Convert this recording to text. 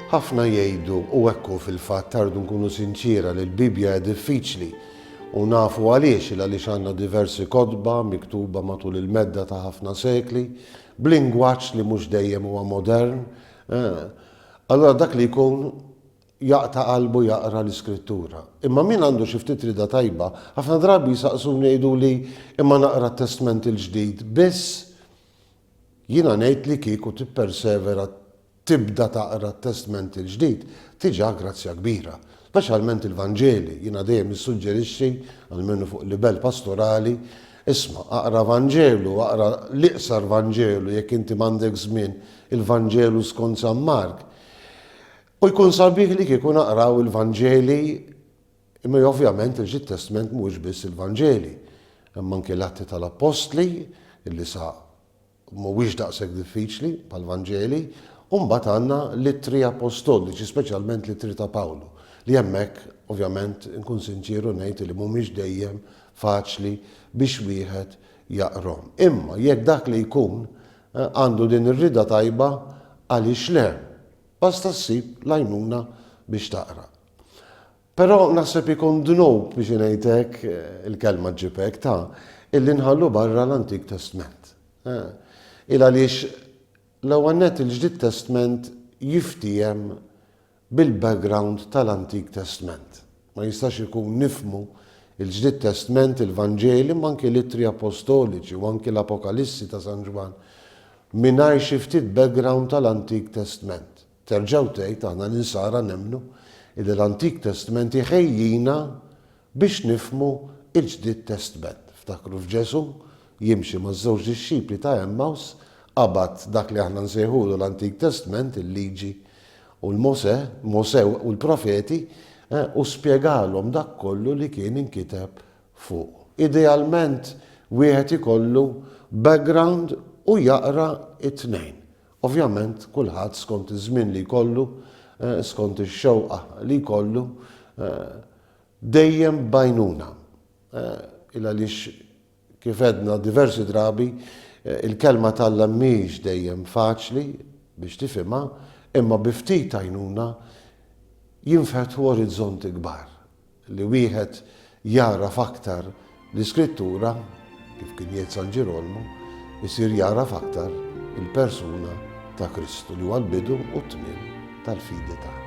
Ħafna jgħidu u hekk hu fil-fatt tardu nkunu sinċiera li l-Bibbja hija diffiċli u nafu għaliex il għaliex għandna diversi kotba miktuba matul il-medda ta' ħafna sekli b'lingwaġġ li mhux dejjem huwa modern. Eh, Allura dak li jkun jaqta' qalbu jaqra l-Iskrittura. Imma min għandu xi ftit rieda tajba, ħafna drabi jsaqsuni jgħiduli, Imma naqra t-Testment il-Ġdid biss? Jiena ngħid li kieku tippersevera tibda taqra t-Testment il-Ġdid, tiġa grazzja kbira. Speċjalment il-Vanġeli, jiena dejjem nissuġġerixxi, almenu fuq livell pastorali, Isma', aqra Vanġelu, aqra l-iqsar Vanġelu jekk inti m'għandek żmien, Il-Vanġelu skont San Mark. U jkun sabiħ li kieku naqraw il-Vanġeli, imma ovvjament il ġid Testment mhuwiex biss il-Vanġeli. Hemm anki l-Atti tal-Appostli, illi sa mhuwiex daqshekk diffiċli bħall-Vanġeli, u mbagħad għandna l-Ittri Appostoliċi, speċjalment l-Ittri ta' Pawlu, li hemmhekk ovvjament inkun sinċieru ngħid li mhumiex dejjem faċli biex wieħed jaqrahom. Imma jekk dak li jkun Għandu din ir-rieda tajba, għaliex le? Basta ssib l-għajnuna biex taqra. Però naħseb ikun dnub, biex ngħid hekk, il-kelma ġġib hekk, ta', illi nħallu barra l-Antik Testment. Il għaliex, l-ewwel nett il-Ġdid Testment jiftiehem bil-background tal-Antik Testment. Ma jistax ikun nifhmu l-Ġdid Testment, il-Vanġeli, imma anki l-Ittri Appostoliċi u anki l-Apokalissi ta' San Ġwann mingħajr xi ftit background tal-Antik Testment. Terġa' u tgħid, aħna l-Insara nemmnu illi l-Antik Testment iħejjina Biex nifhmu l-Ġdid Testment, ftakru f'Ġesù jimxi maż-żewġ dixxipli ta' Għemmaws, qabad dak li aħna nsejħulu l-Antik Testment, il-Liġi u l-Mosè, Mosè u l-Profeti, u spjegalhom dak kollu li kien inkiteb fuq. Idealment wieħed ikollu background u jaqra t-tnejn. Ovvjament kulħadd skont iż-żmien li jkollu, skont ix-xewqa li jkollu, Dejjem b'għajnuna. Il-għaliex kif għedna diversi drabi, il-Kelma t'Alla mhix dejjem faċli biex tifhimha, imma bi ftit għajnuna jinfetħu orizzonti kbar li wieħed jagħraf aktar L-Iskrittura, kif kien jgħid San Ġirolmu, isir jagħraf aktar il-persuna ta' Kristu li huwa l-bidu u t-tmiem tal-fidi tagħna.